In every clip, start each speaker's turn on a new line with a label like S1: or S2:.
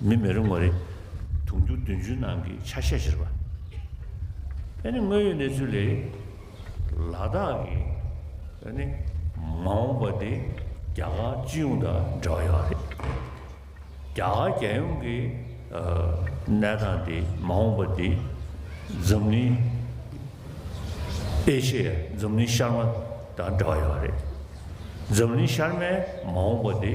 S1: མི་མི་རེ་ངོ་རེ། དུང་ཕྱུར་བདུན་ཅུའི་ནང་གི་ཆ་ཤས་བཞིར་བ། ཨ་ནི་དངོས་ཡོད་གནས་ཚུལ་ལས། ལ་དྭགས་ཀྱི་ཨ་ནི་མ་འོངས་པ་དེ་རྒྱ་གར་སྤྱི་ཡོངས་དང་འབྲེལ་བ་ཡོད་པ་རེད། རྒྱ་གར་རྒྱལ་ཡོངས་ཀྱི་གནས་སྟངས་དེ་མ་འོངས་པ་དེ་འཛམ་གླིང་ཨེ་ཤེ་ཡ་འཛམ་གླིང་ཤར་མ་དང་འབྲེལ་བ་ཡོད་པ་རེད། འཛམ་གླིང་ཤར་མའི་མ་འོངས་པ་དེ་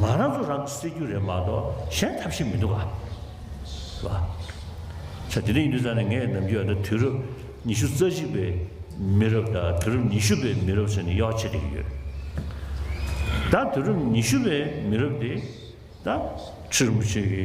S1: ང་རང་ཚོ་རང་གིས་སེལ་རྒྱུ་རེད་མ་གཏོགས་གཞན་ཐབས་ཤེས་མི་འདུག་ག་ལ། ཆ་དེ་འདྲ་ཡིན་དུས་ས་ནས་ངས་ནམ་རྒྱུན་ཡང་ན་དུས་རབས་ཉི་ཤུ་རྩ་གཅིག་པའི་མི་རབས་དང་དུས་རབས་ཉི་ཤུ་པའི་མི་རབས་ཟེར་ནས་གཡོག་བྱེད་བསྡད་ཀྱི་ཡོད། ད་དུས་རབས་ཉི་ཤུ་པའི་མི་རབས་དེ་ད་ཁྲི་རིན་པོ་ཆེ་གི་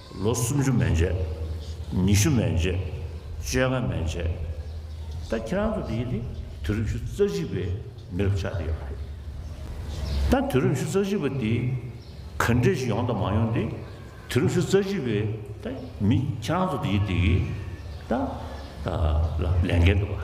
S1: ལོ་སུམ་ཅུ་མན་ཆད། ཉི་ཤུ་མན་ཆད། བཅོ་ལྔ་མན་ཆད། ད་ཁྱེད་རང་ཚོ་འདི་ནི་དུས་རབས་བཅུ་རྩ་གཅིག་པའི་མི་རབས་ཆགས་བསྡད་ཡོད་པ་རེད། ད་དུས་རབས་བཅུ་རྩ་གཅིག་པ་འདི་ག་འདྲས་ཤིག་ཡོང་དང་མ་ཡོང་འདི་དུས་རབས་བཅུ་རྩ་གཅིག་པའི་ད་མི་ཁྱེད་རང་ཚོ་འདི་གིས་ད་ལས་འགན་འདུག་ག།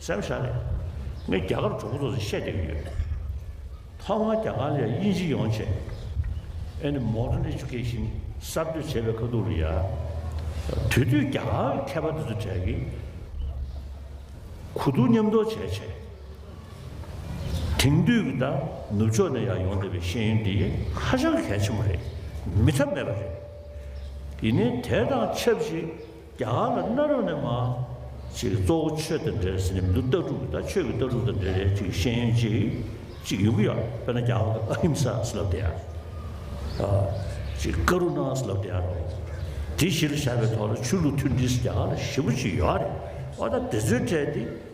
S1: སེམས་ཤར་ནས་ངས་རྒྱ་གར་གྲོགས་པོ་ཚོ་ཚོས་བཤད་བསྡད་ཀྱི་ཡོད། ཐོག་མར་རྒྱ་གར་ལ་དབྱིན་ཇི་ཡོང་ཆེད Any Modern Education གསར་གཏོད་བྱེད་པའི་ཁ་ཐུག་རེད་ཡ། དེ་དུས་རྒྱ་གར་གྱི་མཁས་པ་དེ་ཚོ་གྲལ་གྱི་གུ་དུག་མཉམ་འདོགས་བྱས་བྱས། དེང་དུས་ཀྱི་ད་ནུབ་ཕྱོགས་ནས་ཡང་ཡོང་བསྡད་པའི་ཤེས་ཡོན་འདི་ཧ་ཅང་གལ་ཆེན་པོ་རེད་མི་ཐབས་མེད་པ་རེད། ཡིན་ནའི་དེ་དང་ཆབས་ཅིག་རྒྱ་གར་ལ་གནའ་རབས་ནས་མ། ཅིག་གཙོ་བོ་ཆོས་དང་འབྲེལ་ཟེར་ནས་མི་འདུག་ལྟ་གྲུབ་དང་ཆོས་ཀྱི་ལྟ་གྲུབ་དང་འབྲེལ་རེ་ཅིག་ཤེས་ཡོན་ཅིག་ཅིག་ཡོད་ཀྱི་ཡོད་དཔེར་ན་རྒྱ་གར་གྱི་ཨ་ཧིམ་ས་སི་ལབ་དེ་ཨ། ཅིག་ཀ་རུ་ནཱ་སི་ལབ་དེ་ཨ་རོ། དེ་གཞིར་བཞག་པའི་ཐོག་ལ་ཆོས་ལུགས་མཐུན་སྒྲིལ་སི་རྒྱ་གར་ལ་ཞི་བོ་ཅིག་ཡོད་རེད་བ་ད་དེ་ཚོའི་གྲས་དེ།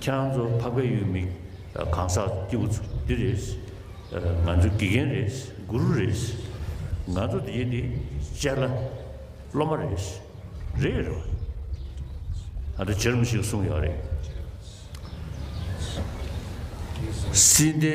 S1: ཁྱེད་རང་ཚོ་འཕགས་པའི་ཡུལ་མིག་གང་ཟག་སྐྱེས་བུ་ཚོ་འདི་རེད། ང་ཚོའི་དགེ་རྒན་རེད་གུ་རུ་རེད། ང་ཚོ་འདི་ཡིན་འདི་ཅལ་ལ་སློབ་མ་རེད། རེད་རེད་བ། ད་ལྟ་བྱེ་རུམ་ཞིག་གསུངས་ཡོད་རེད། སྲིད་སྡེ།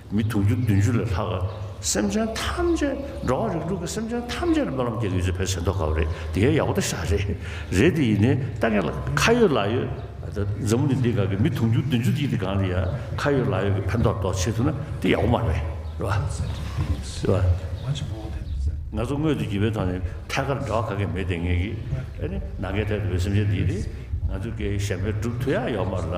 S1: མི་དུང་ཕྱུར་བདུན་ཅུ་ལས་ལྷག་སེམས་ཅན་ཐམས་ཅད་འགྲོ་བ་རིགས་དྲུག་གི་སེམས་ཅན་ཐམས་ཅད་ལ་སྨོན་ལམ་རྒྱག་གི་ཡོད་ཚེ་བོད་ཟེར་མདོག་ག་བ་རེད་དེ་ག་ཡག་པོ་ཏ་ཤག་རེད་རེད་དེ་ཡིན་ནས་ལྟ་མཁན་ལ་ཁ་ཡོད་ལག་ཡོད་ད་འཛམ་བུ་ནི་འདི་ག་གི་མི་དུང་ཕྱུར་བདུན་ཅུ་དེ་ཡི་དེ་གང་ལ་ཡང་ཁ་ཡོད་ལག་ཡོད་ཀྱི་ཕན་ཐོག་ཏོག་བྱེད་ཐུབ་ན་དེ་ཡག་པོ་མ་རེད་རེད་བ། ང་ཚོ་སྔོན་དུ་བགྱི་བའི་ཐོག་ནས་ཐད་ཀར་འདྲ་བ་ག་གེ་མེད་དེ་ངེས་ཀྱི་ཨ་ནི་ནང་གའི་ཐད་དུ་བའི་སེམས་ཅན་དེ་ཡི་དེ་ང་ཚོ་གའི་གཞན་པའི་སྒྲུབ་མཐུ་ཡག་ཡོག་མ་རེད་ལ།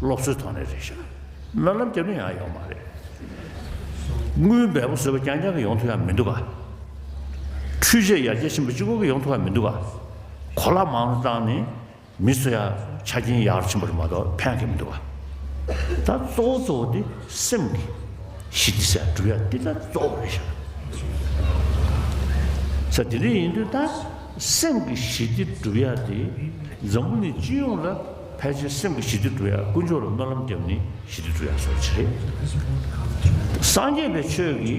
S1: སློབ་གསོའི་ཐོག་ནས་རེད་བཤད། སྨོན་ལམ་རྒྱབ་ན་ཡང་ཡོང་མ་རེད། དངུལ་འབེལ་པོ་བཟོས་པ་རྐྱང་རྐྱང་གི་ཡོང་ཐུབ་ཡང་མི་འདུག་ག། འཕྲུལ་ཆས་ཡར་རྒྱས་ཕྱིན་པ་གཅིག་པོ་གི་ཡོང་ཐུབ་ཡང་མི་འདུག་ག། གོ་ལ་མང་དུ་བཏང་ནས་མི་ཚོ་ཡང་ཆ་རྐྱེན་ཡག་རུ་ཕྱིན་པ་རུ་མ་གཏོགས་ཕན་གི་མི་འདུག་ག། ད་གཙོ་བོ་གཙོ་བོ་དེ་སེམས་ཀྱི་གཞི་དེ་སེམས་སྒྲུབ་ཡ་དེ་ད་གཙོ་བོ་རེད་བཤད། ཚ་དེ་འདྲ་ཡིན་དུས་ད་སེམས་ཀྱི་གཞི་དེ་སྒྲུབ་ཡ་དེ་འཛམ་བུ་ནི་སྤྱི་ཡོངས་ལ། ཕལ་ཆེར་སེམས་ཀྱི་ཞི་བདེ་བསྒྲུབ་ཡ་དཀོན་མཆོག་ལ་སྨོན་ལམ་བརྒྱབ་ནས་ཞི་བདེ་བསྒྲུབ་ཡ་སོགས་ཀྱི་རེད། སངས་རྒྱས་པའི་ཆོས་ཀྱི་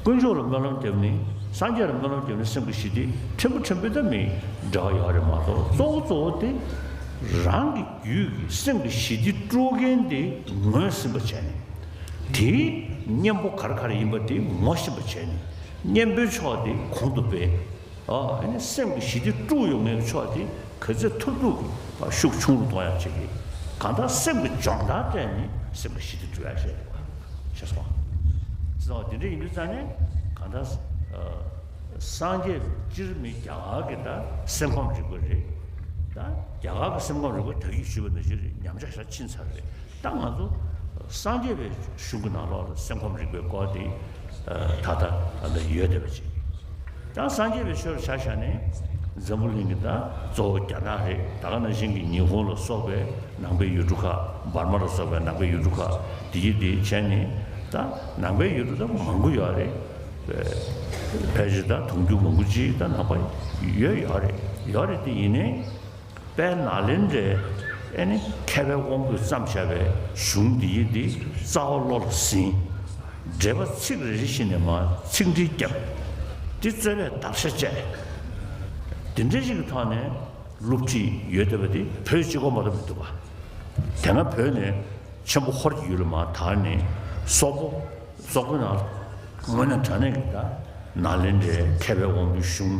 S1: དཀོན་མཆོག་ལ་སྨོན་ལམ་བརྒྱབ་ནས་སངས་རྒྱས་ལ་སྨོན་ལམ་བརྒྱབ་ནས་སེམས་ཀྱི་ཞི་བདེ་ཕྲན་བུ་ཕྲན་བུ་ད་མི་འདྲ་བ་ཡག་རེད་མ་གཏོགས་གཙོ་བོ་གཙོ་བོ་དེ་རང་གི་རྒྱུད་ཀྱི་སེམས་ཀྱི་ཞི་བདེ་དཀྲུག་མཁན་དེ་ངོས་ཟིན་པ་བྱས་ནས་དེའི་གཉེན་པོ་གར་གར་ཡིན་པ་དེ་ངོ་ཤེས་པ་བྱས་ནས་གཉེན་པོའི་ཕྱོགས་དེ་གོང་དུ་སྤེལ། སེམས་ཀྱི་ཞི་བདེ་དཀྲུགས་ཡོང་མཁན་གྱི་ཕྱོགས་དེ་གུས་བརྩི་མཐུར་འདུག་གི་ཤུགས་ཆུང་རུ་གཏོང་ཡག་བྱེད་ཀྱི། གང་ལྟར་སེམས་ཀྱི་སྦྱོང་བརྡར་སྤྲད་ནས་སེམས་ཀྱི་ཞི་བདེ་དཀྲུགས་ཡག་བྱས་འདུག་ཞེས་སོགས། ཅི་ལྟ་བ་དེ་འདྲ་ཡིན་དུས་ཙམ་ནས་གང་ལྟར། སངས་རྒྱས་སྤྱིར་མི་རྒྱ་གར་གྱི་ད་སེམས་ཁམས་རིག་པ་རེད། ད་རྒྱ་གར་གྱི་སེམས་ཁམས་རིག་པ་དག་ཡིད་ཞུ་བའི་ནུས་ཆེ་རེད་ཉམས་ཆག་ཤ་ཆིན་ཚར་རེད། ད་ང་ཚོ་སངས་རྒྱས་པའི་གཞུང་གི་ནང་ལོགས་ལ་སེམས་ཁམས་རིག་པའི་སྐོར་དེ་ད་ལྟ་ད་ལྟ་ཡོད་བསྡད་པ་ཅིག་ཡང་སངས་རྒྱས་པའི་ཆོས་ལ་ཆ་བཞག་ནས་འཛམ་བུ་གླིང་གི་ད་གཙོ་བོ་རྒྱ་ནག་རེད་ད་ག་ནང་བཞིན་གྱི་ཉི་ཧོང་ལ་སོགས་པའི་ནང་པའི་ཡུལ་གྲུ་ཁག་འབར་མ་ལ་སོགས་པའི་ནང་པའི་ཡུལ་གྲུ་ཁག་དེ་གྱིས་དེ་བྱས་ནས་ད་ནང་པའི་ཡུལ་གྲུ་ད་མང་པོ་ཡོད་རེད། ཕལ་ཆེར་ད་དུང་རྒྱུ་མང་པོ་ཅིག་ད་ནང་པ་ཡོད་ཡོད་རེད་ཡོད་རེད་དེ་ཡིན་ནའི། པས་ན་ལན་རེ་ཨེ་ནི་མཁས་པའི་དབང་པོས་བརྩམས་བྱ་བའི་གཞུང་འདི་ཡིག་འདི་རྩ་བ་བློ་ལ་ཟིན། འགྲེལ་པ་ཚིག་རེ་རེ་ཞིག་ནས་མ་ཚིག་འདྲིལ་བརྒྱབ། འདི་རྩོད་པའི་བརྡར་ཤ་བཅད། འདི་འདྲ་ཞིག་གི་ཐོག་ནས་བསླུ་བྲིད་ཡོད་བསྡད་པ་འདི་བོད་སྤྱི་ཁོག་མ་རུ་མི་འདུག་པ། དེ་སྔ་བོད་ནས་ཆེན་པོ་ཧོར་གྱི་ཡུལ་ལ་མ་དར་ནི་སོག་པོ་སོག་པོ་ན་ངོས་ན་དྲ་གནས་ཀྱི་ད་ན་ལན་རེ་མཁས་པའི་དབང་པོའི་གཞུང།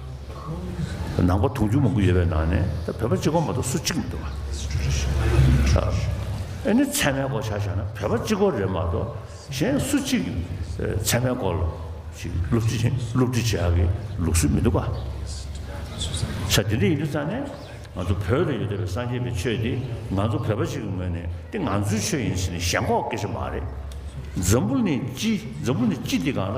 S1: ནང་པ་དུང་ཕྱུར་མང་པོ་ཡོད་པའི་ནང་ནས་ད་བོད་པ་གཅིག་གོ་མ་གཏོགས་སུ་གཅིག་མི་འདུག་ག་ཨེ་ནི་ཚད་མའི་སྐོར་ཆ་ཆ་ན་བོད་པ་གཅིག་གོ་རེད་མ་གཏོགས་གཞན་སུ་གཅིག་ཚད་མའི་སྐོར་ཞིག་སློབ་ཁྲིད་བྱེད་སློབ་ཁྲིད་བྱེད་ཡག་གི་ལུགས་སྲོལ་མི་འདུག་ག་ཆ་དེ་འདྲ་ཡིན་དུས་ཙང་ནས་ང་ཚོ་བོད་ལ་ཡོད་བསྡད་པའི་སངས་རྒྱས་པའི་ཆོས་དེ་ང་ཚོ་བོད་པ་ཞིག་གི་ངོས་ནས་དེ་ང་ཚོའི་ཆོས་ཡིན་ཟེར་ནས་ཞེན་ཁོག་སྐྱེ་ཆོག་མ་རེད་འཛམ་བུ་ནི་སྤྱི་འཛམ་བུ་ནི་སྤྱི་འདི་གང་ལ།